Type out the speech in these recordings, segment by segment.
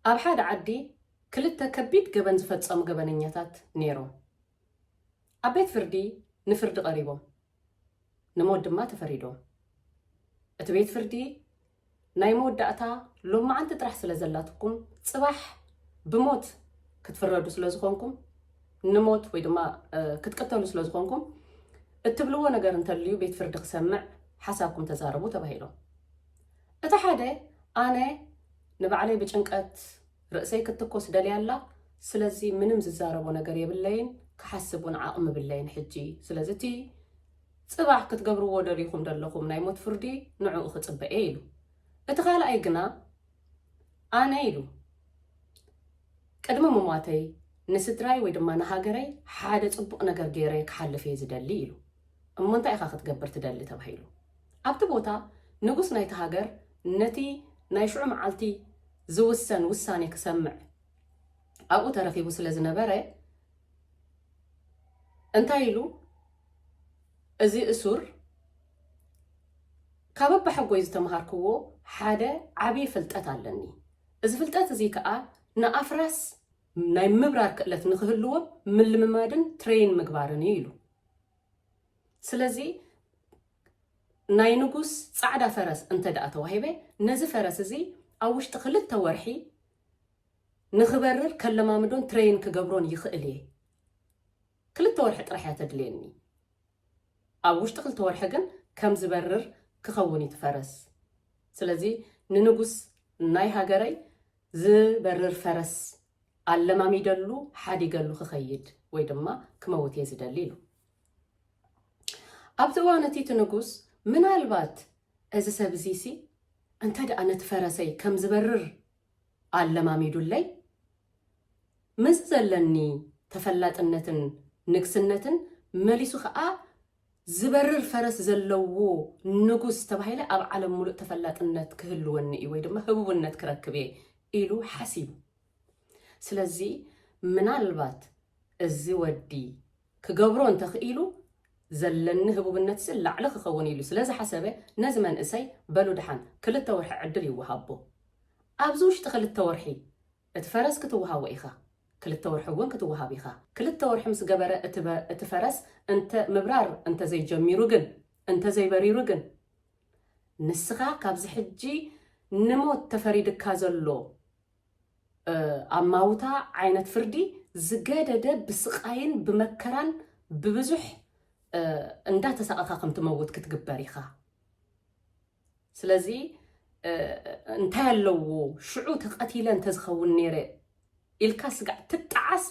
ኣብ ሓደ ዓዲ ክልተ ከቢድ ገበን ዝፈጸሙ ገበነኛታት ነይሮም። ኣብ ቤት ፍርዲ ንፍርዲ ቀሪቦም። ንሞት ድማ ተፈሪዶም። እቲ ቤት ፍርዲ ናይ መወዳእታ ሎማዓንቲ ጥራሕ ስለ ዘላትኩም ጽባሕ ብሞት ክትፍረዱ ስለ ዝኾንኩም ንሞት ወይ ድማ ክትቅተሉ ስለ ዝኾንኩም እትብልዎ ነገር እንተልዩ ቤት ፍርዲ ክሰምዕ ሓሳብኩም ተዛረቡ ተባሂሎም። እቲ ሓደ ኣነ ንባዕለይ ብጭንቀት ርእሰይ ክትትኮስ ደልያ ኣላ ስለዚ ምንም ዝዛረቦ ነገር የብለይን ክሓስብ ውን ዓቅሚ የብለይን ሕጂ ስለዚ እቲ ጽባሕ ክትገብርዎ ደሊኩም ደለኩም ናይ ሞት ፍርዲ ንዕኡ ክጽበ እየ ኢሉ እቲ ካልኣይ ግና ኣነ ኢሉ ቅድሚ ምሟተይ ንስድራይ ወይ ድማ ንሃገረይ ሓደ ጽቡቅ ነገር ገይረ ክሓልፍ እየ ዝደሊ ኢሉ እሞ እንታይ ኢካ ክትገብር ትደሊ ተባሂሉ ኣብቲ ቦታ ንጉስ ናይቲ ሃገር ነቲ ናይ ሽዑ መዓልቲ ዝውሰን ውሳኔ ክሰምዕ ኣብኡ ተረኺቡ ስለ ዝነበረ እንታይ ኢሉ እዚ እሱር ካብ ኣባሓጎይ ዝተምሃርክዎ ሓደ ዓብዪ ፍልጠት ኣለኒ እዚ ፍልጠት እዚ ከዓ ንኣፍራስ ናይ ምብራር ክእለት ንክህልዎም ምልምማድን ትሬይን ምግባርን እዩ ኢሉ ስለዚ ናይ ንጉስ ጻዕዳ ፈረስ እንተድኣ ተዋሂበ፣ ነዚ ፈረስ እዚ ኣብ ውሽጢ ክልተ ወርሒ ንኽበርር ከለማምዶን ትረይን ክገብሮን ይኽእል እየ። ክልተ ወርሒ ጥራሕ እያ ተድልየኒ። ኣብ ውሽጢ ክልተ ወርሒ ግን ከም ዝበርር ክኸውን እዩ እቲ ፈረስ። ስለዚ ንንጉስ ናይ ሃገረይ ዝበርር ፈረስ ኣለማሚደሉ ሓዲገሉ ክኸይድ ወይ ድማ ክመውት እየ ዝደሊ ኢሉ። ኣብዚ እዋን እቲ እቲ ንጉስ ምናልባት እዚ ሰብ እዚሲ እንተ ደኣ ነቲ ፈረሰይ ከም ዝበርር ኣለማሚዱለይ ምስ ዘለኒ ተፈላጥነትን ንግስነትን መሊሱ ከዓ ዝበርር ፈረስ ዘለዎ ንጉስ ተባሂለ ኣብ ዓለም ሙሉእ ተፈላጥነት ክህልወኒ እዩ ወይ ድማ ህቡብነት ክረክብ እየ ኢሉ ሓሲቡ። ስለዚ ምናልባት እዚ ወዲ ክገብሮ እንተኽኢሉ ዘለኒ ህቡብነትሲ ላዕሊ ክኸውን ኢሉ ስለ ዝሓሰበ ነዚ መንእሰይ በሉ ድሓን ክልተ ወርሒ ዕድል ይወሃቦ ኣብዚ ውሽጢ ክልተ ወርሒ እቲ ፈረስ ክትወሃቦ ኢኻ ክልተ ወርሒ እውን ክትወሃብ ኢኻ ክልተ ወርሒ ምስ ገበረ እቲ ፈረስ እንተ ምብራር እንተ ዘይጀሚሩ ግን እንተ ዘይበሪሩ ግን ንስኻ ካብዚ ሕጂ ንሞት ተፈሪድካ ዘሎ ኣማውታ ዓይነት ፍርዲ ዝገደደ ብስቃይን ብመከራን ብብዙሕ እንዳተሳቐኻ ከምትመውት ክትግበር ኢኻ። ስለዚ እንታይ ኣለዎ ሽዑ ተቀቲለ እንተዝኸውን ነይረ ኢልካ ስጋዕ ትጣዓስ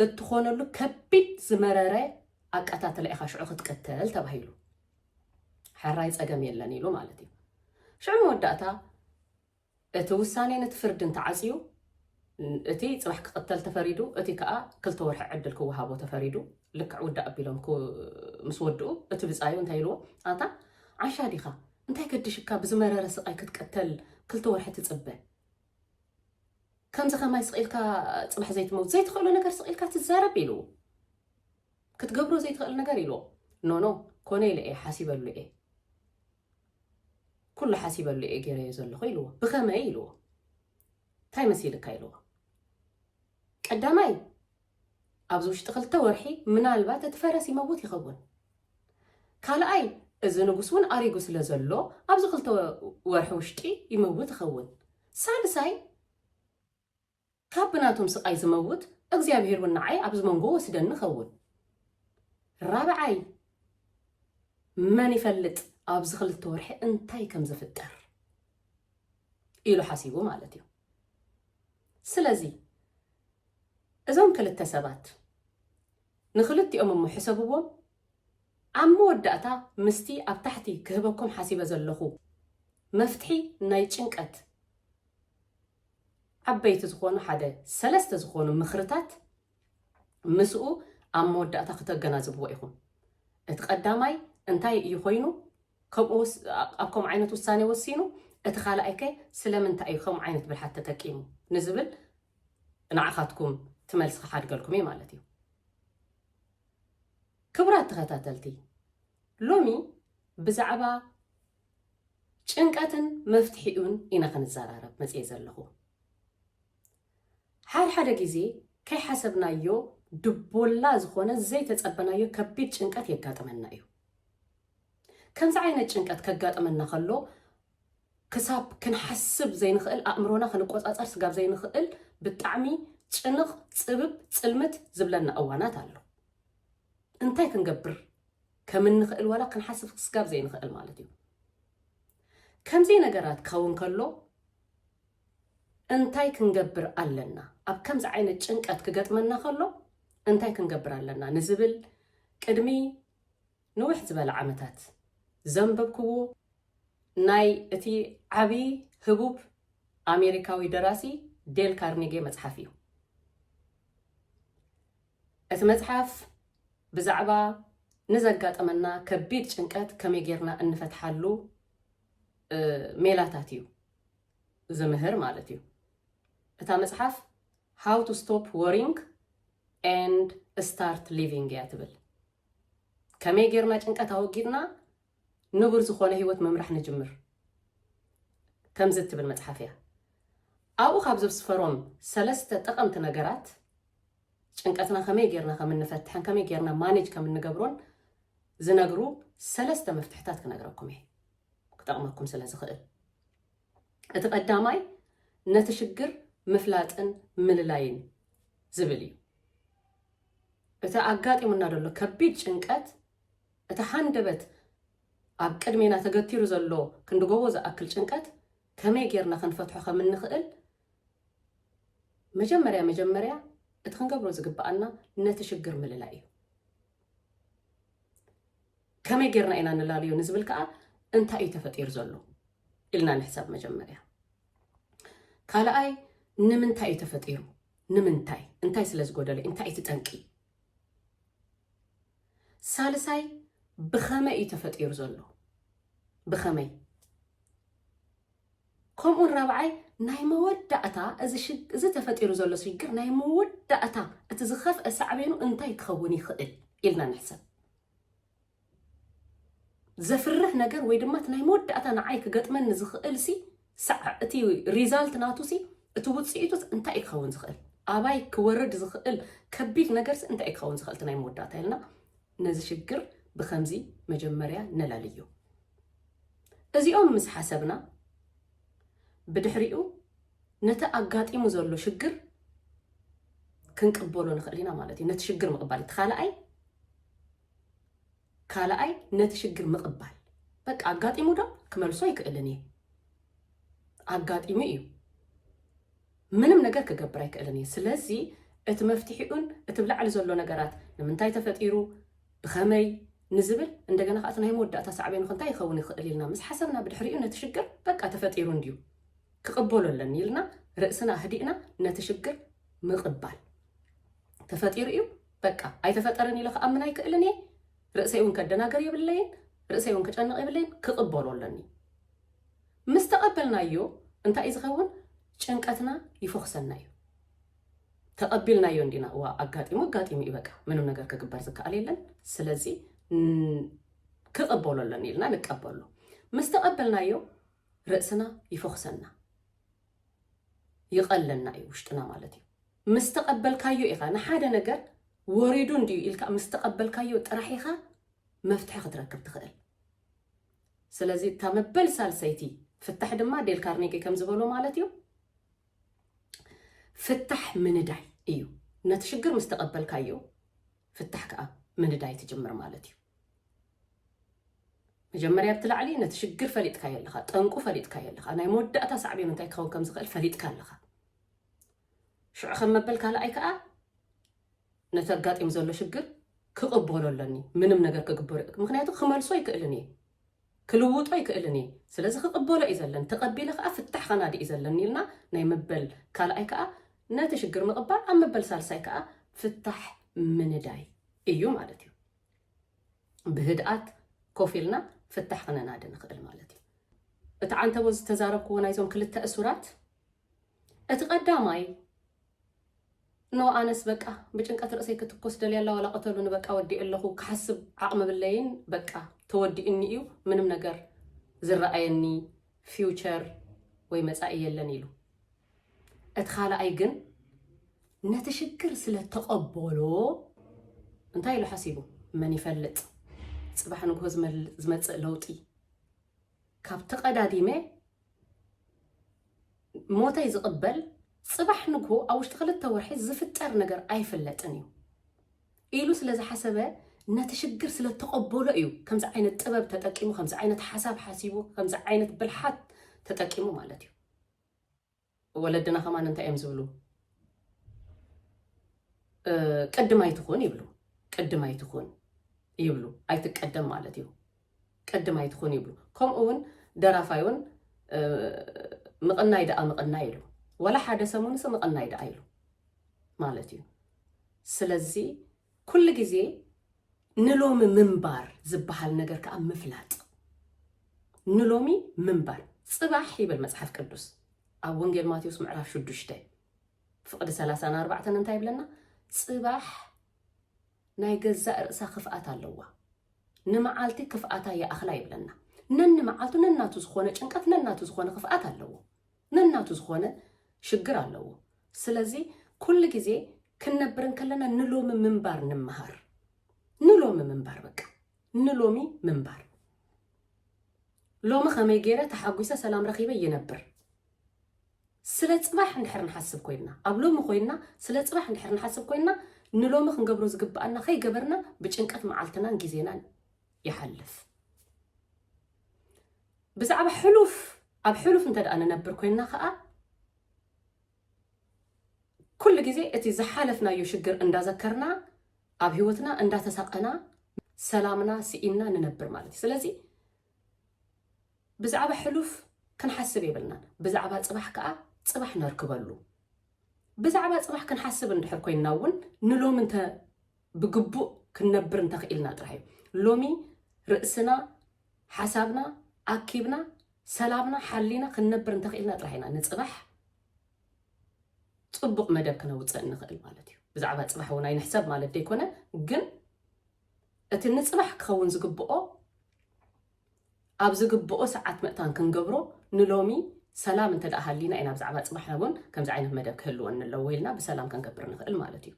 እትኾነሉ ከቢድ ዝመረረ ኣቀታትላ ኢኻ ሽዑ ክትቅተል ተባሂሉ ሕራይ ፀገም የለን ኢሉ ማለት እዩ ሽዑ መወዳእታ እቲ ውሳኔን እቲ ፍርድን ተዓጽዩ፣ እቲ ጽባሕ ክቕተል ተፈሪዱ፣ እቲ ከኣ ክልተ ወርሒ ዕድል ክወሃቦ ተፈሪዱ፣ ልክዕ ውዳእ ኣቢሎም ክው ምስ ወድኡ፣ እቲ ብጻዩ እንታይ ኢልዎ፣ ኣንታ ዓሻ ዲኻ፣ እንታይ ገዲሽካ ብዝመረረ ስቓይ ክትቅተል ክልተ ወርሒ ትጽበ፣ ከምዚ ከማይ ስቕ ኢልካ ጽባሕ ዘይትመውት፣ ዘይትኽእሎ ነገር ስቕ ኢልካ ትዛረብ ኢልዎ። ክትገብሮ ዘይትኽእል ነገር ኢልዎ፣ ኖኖ ኮነ ኢለ እየ ሓሲበሉ እየ። ኩሉ ሓሲበሉ እየ ገይረዮ ዘለኹ ኢልዎ። ብኸመይ ኢልዎ። እንታይ መሲልካ ኢልዎ። ቀዳማይ ኣብዚ ውሽጢ ክልተ ወርሒ ምናልባት እቲ ፈረስ ይመውት ይኸውን ካልኣይ እዚ ንጉስ እውን ኣሪጉ ስለ ዘሎ ኣብዚ ክልተ ወርሒ ውሽጢ ይመውት ይኸውን ሳልሳይ ካብ ብናቶም ስቃይ ዝመውት እግዚኣብሔር ውን ንዓይ ኣብዚ መንጎ ወስደኒ ኸውን ራብዓይ መን ይፈልጥ ኣብዚ ክልተ ወርሒ እንታይ ከም ዝፍጠር ኢሉ ሓሲቡ ማለት እዩ ስለዚ እዞም ክልተ ሰባት ንክልቲኦም እሞ ሕሰብዎም ኣብ መወዳእታ ምስቲ ኣብ ታሕቲ ክህበኩም ሓሲበ ዘለኹ መፍትሒ ናይ ጭንቀት ዓበይቲ ዝኾኑ ሓደ ሰለስተ ዝኾኑ ምኽርታት ምስኡ ኣብ መወዳእታ ክተገናዝብዎ ኢኹም። እቲ ቀዳማይ እንታይ እዩ ኮይኑ ከምኡ ኣብ ከምኡ ዓይነት ውሳኔ ወሲኑ፣ እቲ ካልኣይ ከ ስለምንታይ እዩ ከምኡ ዓይነት ብልሓት ተጠቂሙ ንዝብል ንዓኻትኩም ትመልስ ክሓድገልኩም እዩ ማለት እዩ። ክብራት ተኸታተልቲ ሎሚ ብዛዕባ ጭንቀትን መፍትሒኡን ኢና ክንዘራረብ መጽየ ዘለኹ። ሓድሓደ ግዜ ከይሓሰብናዮ ድቦላ ዝኾነ ዘይተጸበናዮ ከቢድ ጭንቀት የጋጥመና እዩ። ከምዚ ዓይነት ጭንቀት ከጋጥመና ከሎ ክሳብ ክንሓስብ ዘይንኽእል ኣእምሮና ክንቆጻጸር ስጋብ ዘይንኽእል ብጣዕሚ ጭንቕ ጽብብ ጽልምት ዝብለና እዋናት ኣሎ። እንታይ ክንገብር ከም እንኽእል ዋላ ክንሓስብ ክስጋብ ዘይንኽእል ማለት እዩ ከምዘይ ነገራት ካውን ከሎ እንታይ ክንገብር ኣለና ኣብ ከምዚ ዓይነት ጭንቀት ክገጥመና ከሎ እንታይ ክንገብር ኣለና ንዝብል ቅድሚ ንውሕ ዝበለ ዓመታት ዘንበብክዎ ናይ እቲ ዓብዪ ህቡብ ኣሜሪካዊ ደራሲ ዴል ካርኔጌ መፅሓፍ እዩ እቲ መጽሓፍ ብዛዕባ ንዘጋጠመና ከቢድ ጭንቀት ከመይ ጌርና እንፈትሓሉ ሜላታት እዩ ዝምህር ማለት እዩ። እታ መጽሓፍ ሃው ቱ ስቶፕ ወሪንግ ኤንድ ስታርት ሊቪንግ እያ ትብል። ከመይ ጌርና ጭንቀት ኣወጊድና ንቡር ዝኾነ ህይወት ምምራሕ ንጅምር ከምዚ እትብል መጽሓፍ እያ። ኣብኡ ካብ ዘስፈሮም ሰለስተ ጠቐምቲ ነገራት ጭንቀትና ከመይ ጌርና ከም እንፈትሕን ከመይ ጌርና ማኔጅ ከም እንገብሮን ዝነግሩ ሰለስተ መፍትሕታት ክነግረኩም እየ ክጠቕመኩም ስለ ዝኽእል እቲ ቀዳማይ ነቲ ሽግር ምፍላጥን ምልላይን ዝብል እዩ እቲ ኣጋጢሙና ዘሎ ከቢድ ጭንቀት እቲ ሓንደበት ኣብ ቅድሜና ተገቲሩ ዘሎ ክንድጎቦ ዝኣክል ጭንቀት ከመይ ጌርና ክንፈትሖ ከም እንኽእል መጀመርያ መጀመርያ እቲ ክንገብሮ ዝግብኣና ነቲ ሽግር ምልላይ እዩ። ከመይ ጌርና ኢና ንላልዮ ንዝብል ከዓ እንታይ እዩ ተፈጢሩ ዘሎ ኢልና ንሕሰብ መጀመርያ። ካልኣይ ንምንታይ እዩ ተፈጢሩ? ንምንታይ እንታይ ስለ ዝጎደለ እንታይ እቲ ጠንቂ? ሳልሳይ ብኸመይ እዩ ተፈጢሩ ዘሎ ብኸመይ ከምኡውን ራብዓይ ናይ መወዳእታ እዚ ተፈጢሩ ዘሎ ሽግር ናይ መወዳእታ እቲ ዝኸፍአ ሳዕቤኑ እንታይ ክኸውን ይኽእል ኢልና ንሕሰብ። ዘፍርሕ ነገር ወይ ድማ እቲ ናይ መወዳእታ ንዓይ ክገጥመኒ ዝኽእል ሲ እቲ ሪዛልት ናቱ ሲ እቲ ውፅኢቱ እንታይ እዩ ክኸውን ዝኽእል ኣባይ ክወርድ ዝኽእል ከቢድ ነገር ሲ እንታይ እዩ ክኸውን ዝኽእል እቲ ናይ መወዳእታ ኢልና ነዚ ሽግር ብኸምዚ መጀመርያ ነላልዮ። እዚኦም ምስ ሓሰብና ብድሕሪኡ ነቲ ኣጋጢሙ ዘሎ ሽግር ክንቅበሎ ንኽእል ኢና ማለት እዩ። ነቲ ሽግር ምቕባል እቲ ካልኣይ ካልኣይ ነቲ ሽግር ምቕባል በቃ ኣጋጢሙ ዶ ክመልሶ ኣይክእልን እየ ኣጋጢሙ እዩ ምንም ነገር ክገብር ኣይክእልን እየ። ስለዚ እቲ መፍትሒኡን እቲ ብ ላዕሊ ዘሎ ነገራት ንምንታይ ተፈጢሩ፣ ብኸመይ፣ ንዝብል እንደገና ከኣ እቲ ናይ መወዳእታ ሳዕቤኑኸ እንታይ ይኸውን ይኽእል ኢልና ምስ ሓሰብና ብድሕሪኡ ነቲ ሽግር በቃ ተፈጢሩ እንድዩ ክቕበሎ ኣለኒ ኢልና ርእስና ኣህዲእና ነቲ ሽግር ምቕባል ተፈጢሩ እዩ በቃ ኣይተፈጠረን ኢለ ክኣምን ኣይክእልን እየ ርእሰይ እውን ከደናገር የብለይን ርእሰይ እውን ክጨንቕ የብለይን ክቕበሎ ኣለኒ ምስ ተቐበልናዮ እንታይ እዩ ዝኸውን? ጭንቀትና ይፎኽሰልና እዩ። ተቐቢልናዮ እንዲና እዋ ኣጋጢሙ ኣጋጢሙ እዩ በቃ ምንም ነገር ክግበር ዝከኣል የለን ስለዚ ክቕበሎ ኣለኒ ኢልና ንቀበሎ ምስ ተቐበልናዮ ርእስና ይፎኽሰና ይቐለና እዩ ውሽጥና ማለት እዩ ምስ ተቐበልካዮ ኢኻ ንሓደ ነገር ወሪዱ እንድዩ ኢልካ ምስ ተቐበልካዮ ጥራሕ ኢኻ መፍትሒ ክትረክብ ትኽእል ስለዚ እታ መበል ሳልሰይቲ ፍታሕ ድማ ዴል ካርኔጌ ከም ዝበሎ ማለት እዩ ፍታሕ ምንዳይ እዩ። ነቲ ሽግር ምስ ተቐበልካዮ ፍታሕ ከዓ ምንዳይ ትጅምር ማለት እዩ። መጀመርያ ኣብቲ ላዕሊ ነቲ ሽግር ፈሊጥካዮ ኣለኻ፣ ጠንቁ ፈሊጥካዮ ኣለኻ፣ ናይ መወዳእታ ሳዕቤኑ እንታይ ክኸውን ከም ዝኽእል ፈሊጥካ ኣለኻ። ሽዑ ከም መበል ካልኣይ ከኣ ነቲ ኣጋጢሙ ዘሎ ሽግር ክቕበሎ ኣለኒ ምንም ነገር ክግበሮ ምክንያቱ ክመልሶ ኣይክእልን እየ ክልውጦ ኣይክእልን እየ ስለዚ ክቕበሎ እዩ ዘለኒ ተቐቢለ ከዓ ፍታሕ ከናዲ እዩ ዘለኒ ኢልና ናይ መበል ካልኣይ ከዓ ነቲ ሽግር ምቕባል ኣብ መበል ሳልሳይ ከዓ ፍታሕ ምንዳይ እዩ ማለት እዩ ብህድኣት ኮፍ ኢልና ፍታሕ ክነናዲ ንኽእል ማለት እዩ እቲ ዓንተቦ ዝተዛረብክዎ ናይዞም ክልተ እሱራት እቲ ቀዳማይ እነሆ ኣነስ በቃ ብጭንቀት ርእሰይ ክትኮስ ደልያ ኣላ ዋላ ቅተሉኒ በቃ ወዲኤ ኣለኹ ክሓስብ ዓቕሚ ብለይን በቃ ተወዲኡኒ እዩ ምንም ነገር ዝረኣየኒ ፊውቸር ወይ መጻኢ የለን ኢሉ እቲ ካልኣይ ግን ነቲ ሽግር ስለ ተቐበሎ እንታይ ኢሉ ሓሲቡ መን ይፈልጥ ፅባሕ ንግሆ ዝመፅእ ለውጢ ካብ ተቐዳዲመ ሞተይ ዝቕበል ጽባሕ ንግሆ ኣብ ውሽጢ ክልተ ወርሒ ዝፍጠር ነገር ኣይፍለጥን እዩ ኢሉ ስለ ዝሓሰበ ነቲ ሽግር ስለ ተቐበሎ እዩ ከምዚ ዓይነት ጥበብ ተጠቂሙ ከምዚ ዓይነት ሓሳብ ሓሲቡ ከምዚ ዓይነት ብልሓት ተጠቂሙ ማለት እዩ ወለድና ከማን እንታይ እዮም ዝብሉ ቅድም ኣይትኹን ይብሉ ቅድም ኣይትኹን ይብሉ ኣይትቀደም ማለት እዩ ቅድም ኣይትኹን ይብሉ ከምኡ እውን ደራፋይ እውን ምቕናይ ደኣ ምቕናይ ኢሉ ወላ ሓደ ሰሙንስ ምቕናይ ደኣ ኢሉ ማለት እዩ ስለዚ ኩሉ ግዜ ንሎሚ ምንባር ዝበሃል ነገር ከኣ ምፍላጥ ንሎሚ ምንባር ጽባሕ ይብል መጽሓፍ ቅዱስ ኣብ ወንጌል ማቴዎስ ምዕራፍ ሽዱሽተ ፍቕዲ ሰላሳን ኣርባዕተን እንታይ ይብለና ጽባሕ ናይ ገዛእ ርእሳ ክፍኣት ኣለዋ ንመዓልቲ ክፍኣታ ይኣኽላ ይብለና ነኒ መዓልቱ ነናቱ ዝኾነ ጭንቀት ነናቱ ዝኾነ ክፍኣት ኣለዎ ነናቱ ዝኾነ ሽግር ኣለዎ ስለዚ ኩሉ ግዜ ክንነብር እንከለና ንሎሚ ምንባር ንመሃር ንሎሚ ምንባር በቃ ንሎሚ ምንባር ሎሚ ከመይ ገይረ ተሓጒሰ ሰላም ረኺበ ይነብር ስለ ፅባሕ እንድሕር ንሓስብ ኮይና ኣብ ሎሚ ኮይና ስለ ፅባሕ እንድሕር ንሓስብ ኮይና ንሎሚ ክንገብሮ ዝግብኣና ከይገበርና ብጭንቀት መዓልትናን ግዜናን ይሓልፍ ብዛዕባ ሕሉፍ ኣብ ሕሉፍ እንተ ደኣ ንነብር ኮይንና ከዓ ኩሉ ግዜ እቲ ዝሓለፍናዮ ሽግር እንዳዘከርና ኣብ ህይወትና እንዳተሳቀና ሰላምና ስኢንና ንነብር ማለት እዩ ስለዚ ብዛዕባ ሕሉፍ ክንሓስብ የብልናን ብዛዕባ ፅባሕ ከዓ ፅባሕ ነርክበሉ ብዛዕባ ፅባሕ ክንሓስብ እንድሕር ኮይንና እውን ንሎም እንተ ብግቡእ ክንነብር እንተኽኢልና ጥራሕ እዩ። ሎሚ ርእስና፣ ሓሳብና ኣኪብና፣ ሰላምና ሓሊና ክንነብር እንተኽኢልና ጥራሕ ኢና ንፅባሕ ፅቡቕ መደብ ክነውፅእ እንኽእል ማለት እዩ። ብዛዕባ ፅባሕ እውን ኣይንሕሰብ ማለት ዘይኮነ ግን እቲ ንፅባሕ ክኸውን ዝግብኦ ኣብ ዝግብኦ ሰዓት ምእታን ክንገብሮ ንሎሚ ሰላም እንተ ሃሊና ኢና ብዛዕባ ፅባሕና እውን ከምዚ ዓይነት መደብ ክህልወኒ ኣለዎ ኢልና ብሰላም ክንገብር ንኽእል ማለት እዩ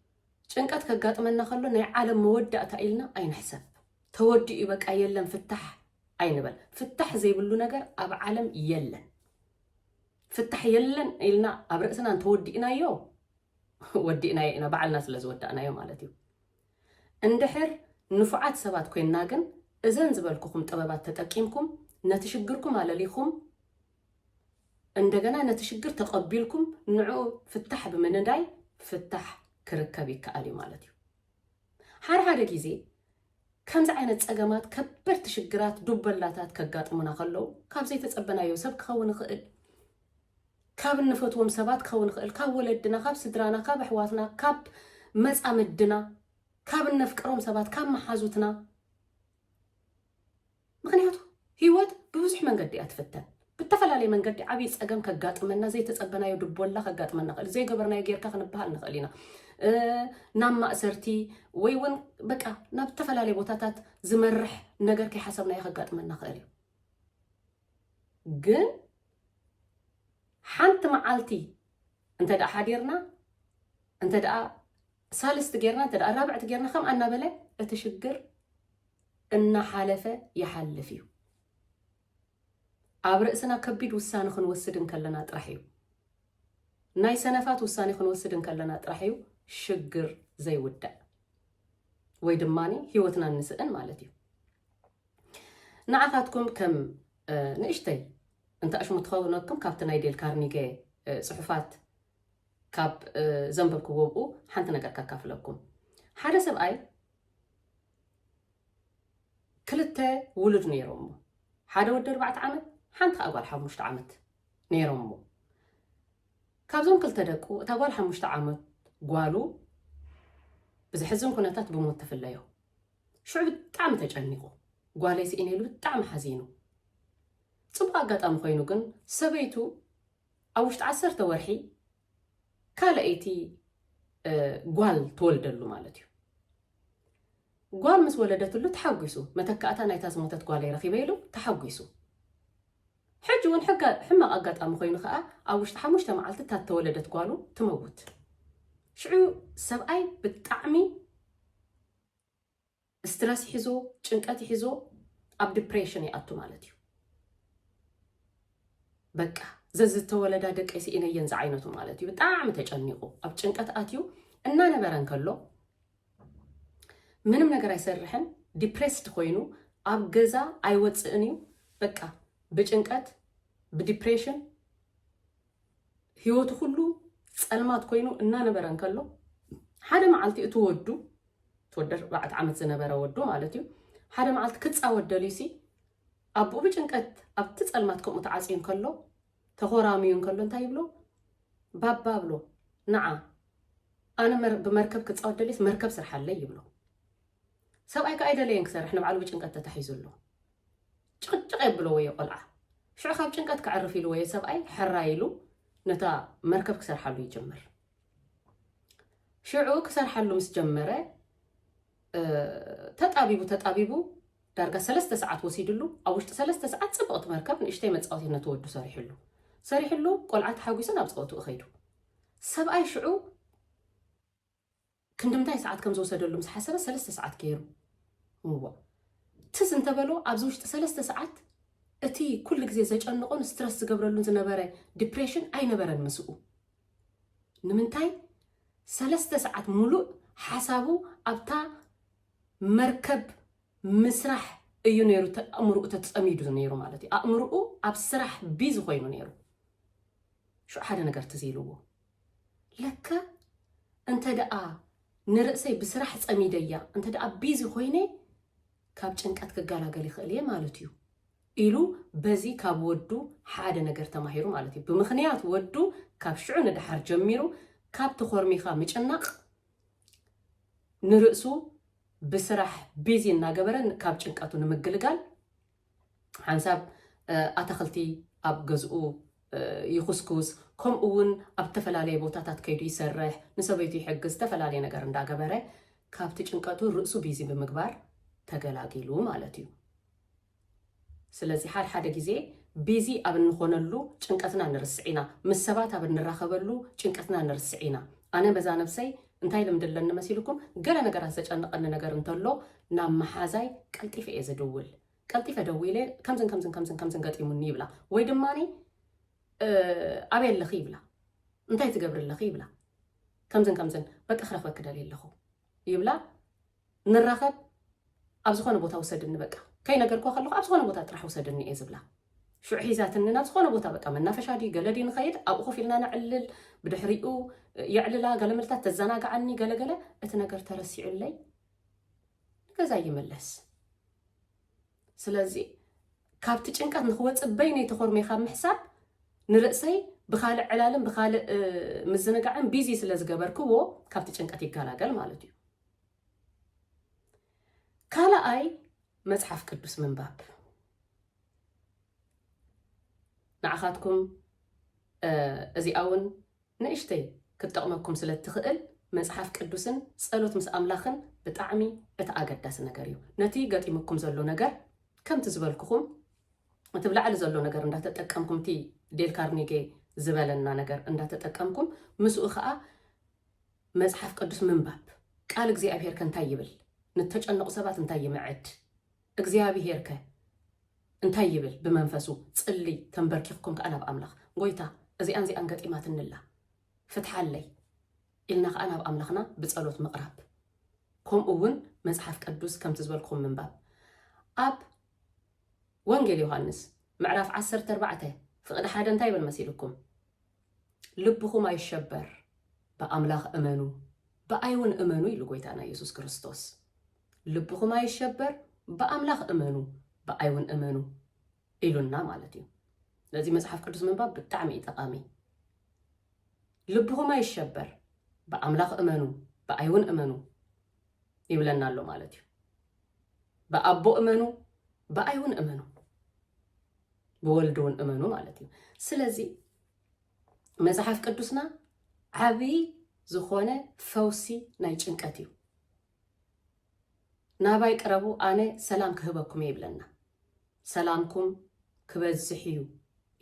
ጭንቀት ከጋጥመና ከሎ ናይ ዓለም መወዳእታ ኢልና ኣይንሕሰብ። ተወዲኡ እዩ በቃ የለን ፍታሕ ኣይንበል። ፍታሕ ዘይብሉ ነገር ኣብ ዓለም የለን። ፍታሕ የለን ኢልና ኣብ ርእስና እንተወዲእናዮ ወዲእናዮ ኢና ባዕልና ስለ ዝወዳእናዮ ማለት እዩ። እንድሕር ንፉዓት ሰባት ኮይንና ግን እዘን ዝበልኩኹም ጥበባት ተጠቂምኩም ነቲ ሽግርኩም ኣለሊኹም እንደገና ነቲ ሽግር ተቐቢልኩም ንዕኡ ፍታሕ ብምንዳይ ፍታሕ ክርከብ ይከኣል እዩ ማለት እዩ። ሓደ ሓደ ግዜ ከምዚ ዓይነት ጸገማት ከበድቲ ሽግራት ዱበላታት ከጋጥሙና ከለዉ ካብ ዘይተጸበናዮ ሰብ ክኸውን ይኽእል ካብ እንፈትዎም ሰባት ክኸውን ይኽእል ካብ ወለድና ካብ ስድራና ካብ ኣሕዋትና ካብ መጻምድና ካብ እነፍቅሮም ሰባት ካብ መሓዙትና ምክንያቱ ህይወት ብብዙሕ መንገዲ እያ ትፍተን ብተፈላለየ መንገዲ ዓብይ ፀገም ከጋጥመና ዘይተፀበናዮ ድቦላ ከጋጥመና ኽእል ዘይገበርናዮ ጌርካ ክንበሃል ንኽእል ኢና ናብ ማእሰርቲ ወይ እውን በቃ ናብ ዝተፈላለየ ቦታታት ዝመርሕ ነገር ከይሓሰብናዮ ከጋጥመና ኽእል እዩ ግን ሓንቲ መዓልቲ እንተ ደኣ ሓዲርና እንተ ደኣ ሳልስቲ ጌርና እንተ ራብዕቲ ጌርና ከምኣ እናበለ እቲ ሽግር እናሓለፈ ይሓልፍ እዩ። ኣብ ርእስና ከቢድ ውሳነ ክንወስድ እንከለና ጥራሕ እዩ ናይ ሰነፋት ውሳኔ ክንወስድ እንከለና ጥራሕ እዩ ሽግር ዘይውዳእ ወይ ድማ ሂወትና እንስእን ማለት እዩ ንዓኻትኩም ከም ንእሽተይ እንተኣሽሙ ትኸውነኩም ካብቲ ናይ ዴል ካርኒገ ፅሑፋት ካብ ዘንበብክዎ ኣብኡ ሓንቲ ነገር ከካፍለኩም ሓደ ሰብኣይ ክልተ ውሉድ ነይሮሞ ሓደ ወዲ ኣርባዕተ ዓመት ሓንቲ ከዓ ጓል ሓሙሽተ ዓመት ነይሮሞ ካብዞም ክልተ ደቁ እታ ጓል ሓሙሽተ ዓመት ጓሉ ብዘሕዝን ኩነታት ብሞት ተፍለዮ ሽዑ ብጣዕሚ ተጨኒቑ ጓለይ ስኢነ ኢሉ ብጣዕሚ ሓዚኑ ፅቡቅ ኣጋጣሚ ኮይኑ ግን ሰበይቱ ኣብ ውሽጢ ዓሰርተ ወርሒ ካልኣይቲ ጓል ትወልደሉ ማለት እዩ። ጓል ምስ ወለደትሉ ተሓጒሱ፣ መተካእታ ናይታ ዝሞተት ጓለይ ረኺበ ኢሉ ተሓጒሱ። ሕጂ እውን ሕማቕ ኣጋጣሚ ኮይኑ ከዓ ኣብ ውሽጢ ሓሙሽተ መዓልቲ እታ ተወለደት ጓሉ ትመውት። ሽዑ ሰብኣይ ብጣዕሚ እስትረስ ይሕዞ ጭንቀት ይሕዞ ኣብ ድፕሬሽን ይኣቱ ማለት እዩ በቃ ዘዝተወለዳ ደቀይ ስኢነየን ዝዓይነቱ ማለት እዩ ብጣዕሚ ተጨኒቑ ኣብ ጭንቀት ኣትዩ እናነበረ እንከሎ ምንም ነገር ኣይሰርሕን ዲፕሬስድ ኮይኑ ኣብ ገዛ ኣይወፅእን እዩ በቃ ብጭንቀት ብዲፕሬሽን ህይወቱ ኩሉ ጸልማት ኮይኑ እናነበረ እንከሎ ሓደ መዓልቲ እቲ ወዱ ትወደ ኣርባዕተ ዓመት ዝነበረ ወዱ ማለት እዩ ሓደ መዓልቲ ክፃወት ደልዩሲ ኣቦኡ ብጭንቀት ኣብቲ ጸልማት ከምኡ ተዓፅዩ እንከሎ ተኾራምዩ እንከሎ እንታይ ይብሎ ባባ ብሎ ንዓ ኣነ ብመርከብ ክፃወት ደልየስ መርከብ ስርሓለይ ይብሎ ሰብኣይ ከዓ ኣይደለየን ክሰርሕ ንባዕሉ ብጭንቀት ተታሒዙ ኣሎ ጭቕጭቕ የብሎ ወዮ ቆልዓ ሽዑ ካብ ጭንቀት ክዕርፍ ኢሉ ወዮ ሰብኣይ ሕራይ ኢሉ ነታ መርከብ ክሰርሓሉ ይጅምር ሽዑ ክሰርሓሉ ምስ ጀመረ ተጣቢቡ ተጣቢቡ ዳርጋ ሰለስተ ሰዓት ወሲድሉ ኣብ ውሽጢ ሰለስተ ሰዓት ፅብቕቲ መርከብ ንእሽተይ መፃወቲ ነቲ ወዱ ሰሪሕሉ ሰሪሕሉ ቆልዓ ተሓጒሱ ናብ ፀወትኡ ከይዱ ሰብኣይ ሽዑ ክንድምንታይ ሰዓት ከም ዝወሰደሉ ምስ ሓሰበ ሰለስተ ሰዓት ገይሩ እዎ ትዝ እንተ በሎ ኣብዚ ውሽጢ ሰለስተ ሰዓት እቲ ኩሉ ግዜ ዘጨንቆን ስትረስ ዝገብረሉን ዝነበረ ዲፕሬሽን ኣይነበረን ምስኡ ንምንታይ ሰለስተ ሰዓት ሙሉእ ሓሳቡ ኣብታ መርከብ ምስራሕ እዩ ነይሩ ኣእምርኡ ተፀሚዱ ነይሩ ማለት እዩ ኣእምርኡ ኣብ ስራሕ ቢዚ ኮይኑ ነይሩ ሽዑ ሓደ ነገር ትዝ ኢልዎ ለካ እንተ ደኣ ንርእሰይ ብስራሕ ጸሚደያ እንተ ደኣ ቢዚ ኮይነ ካብ ጭንቀት ክገላገል ይኽእል እየ ማለት እዩ ኢሉ በዚ ካብ ወዱ ሓደ ነገር ተማሂሩ ማለት እዩ። ብምኽንያት ወዱ ካብ ሽዑ ንደሓር ጀሚሩ ካብ ተኾርሚኻ ምጭናቕ ንርእሱ ብስራሕ ቢዚ እናገበረ ካብ ጭንቀቱ ንምግልጋል ሓንሳብ ኣታኽልቲ ኣብ ገዝኡ ይኹስኩስ፣ ከምኡ እውን ኣብ እተፈላለየ ቦታታት ከይዱ ይሰርሕ፣ ንሰበይቱ ይሕግዝ፣ ዝተፈላለየ ነገር እንዳገበረ ካብቲ ጭንቀቱ ርእሱ ቢዚ ብምግባር ተገላጊሉ ማለት እዩ። ስለዚ ሓድሓደ ግዜ ቢዚ ኣብ እንኾነሉ ጭንቀትና ንርስዕ ኢና። ምስ ሰባት ኣብ እንራኸበሉ ጭንቀትና ንርስዕ ኢና። ኣነ በዛ ነብሰይ እንታይ ልምዲ ኣለኒ መሲልኩም ገለ ነገራት ዘጨንቐኒ ነገር እንተሎ ናብ መሓዛይ ቀልጢፈ እየ ዝድውል ቀልጢፈ ደዊለ ከምዝን ከምዝን ከምዝን ከምዝን ገጢሙኒ ይብላ ወይ ድማ ኣበይ ኣለኺ ይብላ እንታይ ትገብሪ ኣለኺ ይብላ ከምዝን ከምዝን በቂ ክረክበኪ ደልየ ኣለኹ ይብላ ንራኸብ ኣብ ዝኾነ ቦታ ውሰድኒ በቃ ከይነገርክዋ ከለኹ ኣብ ዝኾነ ቦታ ጥራሕ ውሰድኒ እየ ዝብላ ሽዑ ሒዛትኒ ናብ ዝኾነ ቦታ በቃ መናፈሻ ድዩ ገለ ድዩ ንኸይድ ኣብኡ ኮፍ ኢልና ነዕልል ብድሕሪኡ የዕልላ ገለ መልታት ተዘናግዓኒ ገለገለ እቲ ነገር ተረሲዑለይ ገዛ ይምለስ ስለዚ ካብቲ ጭንቀት ንክወፅእ በይነይ ተኾርመይ ካብ ምሕሳብ ንርእሰይ ብካልእ ዕላልን ብካልእ ምዝንጋዕን ቢዚ ስለ ዝገበርክዎ ካብቲ ጭንቀት ይገላገል ማለት እዩ ካልኣይ መጽሓፍ ቅዱስ ምንባብ ንዓኻትኩም እዚኣ እውን ንእሽተይ ክትጠቕመኩም ስለ እትኽእል መጽሓፍ ቅዱስን ጸሎት ምስ ኣምላኽን ብጣዕሚ እቲ ኣገዳሲ ነገር እዩ ነቲ ገጢሙኩም ዘሎ ነገር ከምቲ ዝበልኩኹም እቲ ብላዕሊ ዘሎ ነገር እንዳተጠቀምኩም እቲ ዴል ካርኒጌ ዝበለና ነገር እንዳተጠቀምኩም ምስኡ ከዓ መጽሓፍ ቅዱስ ምንባብ፣ ቃል እግዚኣብሄርከ እንታይ ይብል? ንእተጨነቑ ሰባት እንታይ ይምዕድ? እግዚኣብሄርከ እንታይ ይብል? ብመንፈሱ ጽልይ፣ ተምበርኪኽኩም ከኣ ናብ ኣምላኽ፣ ጐይታ እዚኣን እዚኣን ገጢማትኒ ኣላ፣ ፍትሓለይ ኢልና ከኣ ናብ ኣምላኽና ብጸሎት ምቕራብ፣ ከምኡ እውን መጽሓፍ ቅዱስ ከምቲ ዝበልክኹም ምንባብ። ኣብ ወንጌል ዮሃንስ ምዕራፍ ዓሰርተ ኣርባዕተ ፍቕዲ ሓደ እንታይ ይብል መሲልኩም? ልብኹም ኣይሸበር፣ ብኣምላኽ እመኑ፣ ብኣይ እውን እመኑ ኢሉ ጐይታና ኢየሱስ ክርስቶስ። ልብኹም ኣይሸበር፣ ብኣምላኽ እመኑ፣ ብኣይ እውን እመኑ ኢሉና ማለት እዩ። ነዚ መጽሓፍ ቅዱስ ምንባብ ብጣዕሚ እዩ ጠቓሚ። ልብኹም ኣይሸበር፣ ብኣምላኽ እመኑ፣ ብኣይ እውን እመኑ ይብለና ኣሎ ማለት እዩ። ብኣቦ እመኑ ብኣይ እውን እመኑ ብወልድ እውን እመኑ ማለት እዩ ስለዚ መፅሓፍ ቅዱስና ዓብዪ ዝኾነ ፈውሲ ናይ ጭንቀት እዩ ናባይ ቅረቡ ኣነ ሰላም ክህበኩም እየ ይብለና ሰላምኩም ክበዝሕ እዩ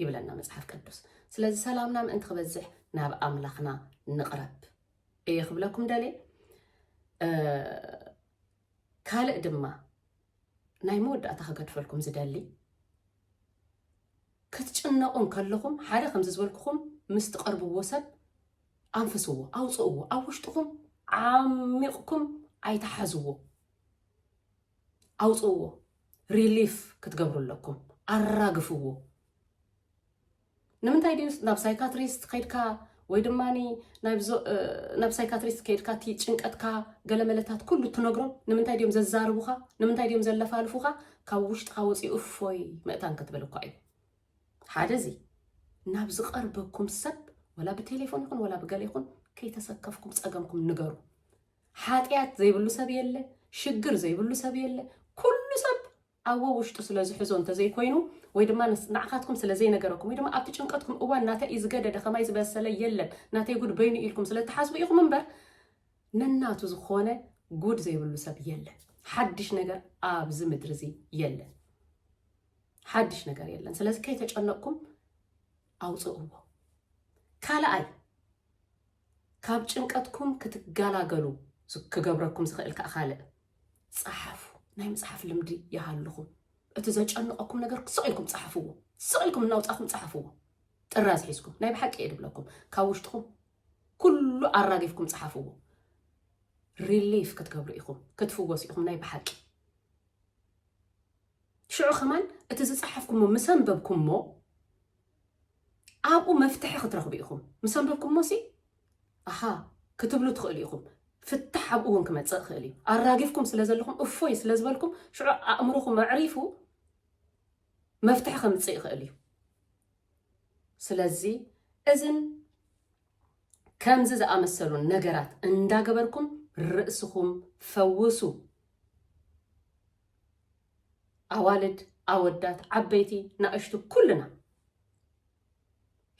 ይብለና መፅሓፍ ቅዱስ ስለዚ ሰላምና ምእንቲ ክበዝሕ ናብ ኣምላኽና ንቕረብ እየ ክብለኩም ደሌ ካልእ ድማ ናይ መወዳእታ ክገድፈልኩም ዝደሊ ክትጭነቑ እንከለኹም ሓደ ከምዚ ዝበልኩኹም ምስ ትቐርብዎ ሰብ ኣንፍስዎ፣ ኣውፅእዎ፣ ኣብ ውሽጥኹም ዓሚቕኩም ኣይትሓዝዎ፣ ኣውፅእዎ፣ ሪሊፍ ክትገብሩ ኣለኩም፣ ኣራግፍዎ። ንምንታይ ድዩ ናብ ሳይካትሪስት ከይድካ ወይ ድማ ናብ ሳይካትሪስት ከይድካ እቲ ጭንቀትካ ገለመለታት ኩሉ ትነግሮም ንምንታይ ድዮም ዘዛርቡኻ ንምንታይ ድዮም ዘለፋልፉኻ ካብ ውሽጥኻ ወፂኡ እፎይ መእታን ክትብል እኳ እዩ ሓደ እዚ ናብ ዝቐርበኩም ሰብ ወላ ብቴሌፎን ይኹን ወላ ብገለ ይኹን ከይተሰከፍኩም ፀገምኩም ንገሩ ሓጢኣት ዘይብሉ ሰብ የለ ሽግር ዘይብሉ ሰብ የለ ኩሉ ሰብ ኣብ ወውሽጡ ስለ ዝሕዞ እንተ ዘይኮይኑ ወይ ድማ ንዓኻትኩም ስለ ዘይነገረኩም ወይ ድማ ኣብቲ ጭንቀትኩም እዋን ናተይ እዩ ዝገደደ ከማይ ዝበሰለ የለን ናተይ ጉድ በይኑ እዩ ኢልኩም ስለ ትሓስቡ ኢኹም እምበር ነናቱ ዝኾነ ጉድ ዘይብሉ ሰብ የለን። ሓድሽ ነገር ኣብዚ ምድሪ እዚ የለን። ሓድሽ ነገር የለን። ስለዚ ከይተጨነቕኩም ኣውፅእዎ። ካልኣይ ካብ ጭንቀትኩም ክትጋላገሉ ክገብረኩም ዝኽእል ከኣ ካልእ ጸሓፉ። ናይ ምጽሓፍ ልምዲ ይሃልኹም። እቲ ዘጨንቐኩም ነገር ስቕ ኢልኩም ጸሓፍዎ። ስቕ ኢልኩም እናውጻኹም ጸሓፍዎ። ጥራዝ ሒዝኩም ናይ ብሓቂ እየ ድብለኩም ካብ ውሽጥኹም ኩሉ ኣራጊፍኩም ጸሓፍዎ ሪሊፍ ክትገብሩ ኢኹም ክትፍወሱ ኢኹም ናይ ብሓቂ ሽዑ ከማን እቲ ዝጸሓፍኩሞ ምስ ኣንበብኩሞ ኣብኡ መፍትሒ ክትረኽቡ ኢኹም ምስ ኣንበብኩሞሲ ኣሃ ክትብሉ ትኽእሉ ኢኹም። ፍታሕ ኣብኡ እውን ክመፅእ ይኽእል እዩ። ኣራጊፍኩም ስለ ዘለኹም እፎይ ስለ ዝበልኩም ሽዑ ኣእምሮኹም ኣዕሪፉ መፍትሒ ከምፅእ ይኽእል እዩ። ስለዚ እዝን ከምዚ ዝኣመሰሉን ነገራት እንዳገበርኩም ርእስኹም ፈውሱ። ኣዋልድ ኣወዳት ዓበይቲ ናእሽቱ ኩልና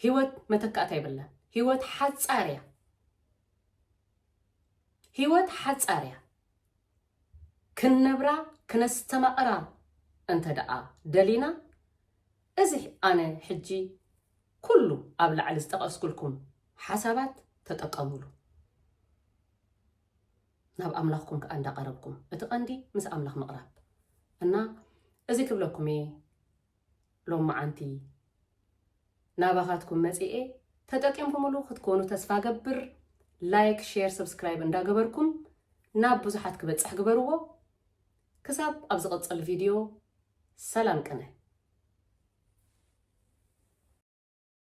ሂወት መተካእታ የብላን ሂወት ሓጻር እያ ሂወት ሓጻር እያ ክንነብራ ክነስተማቕራ እንተ ደኣ ደሊና እዚ ኣነ ሕጂ ኩሉ ኣብ ላዕሊ ዝጠቐስኩልኩም ሓሳባት ተጠቀሙሉ ናብ ኣምላኽኩም ከኣ እንዳቐረብኩም እቲ ቀንዲ ምስ ኣምላኽ ምቕራብ እና እዚ ክብለኩም እየ ሎማዓንቲ ናባኻትኩም መጺኤ ተጠቂምኩምሉ ክትኮኑ ተስፋ ገብር ላይክ ሼር ሰብስክራይብ እንዳገበርኩም ናብ ብዙሓት ክበጽሕ ግበርዎ ክሳብ ኣብ ዝቕጽል ቪድዮ ሰላም ቅነ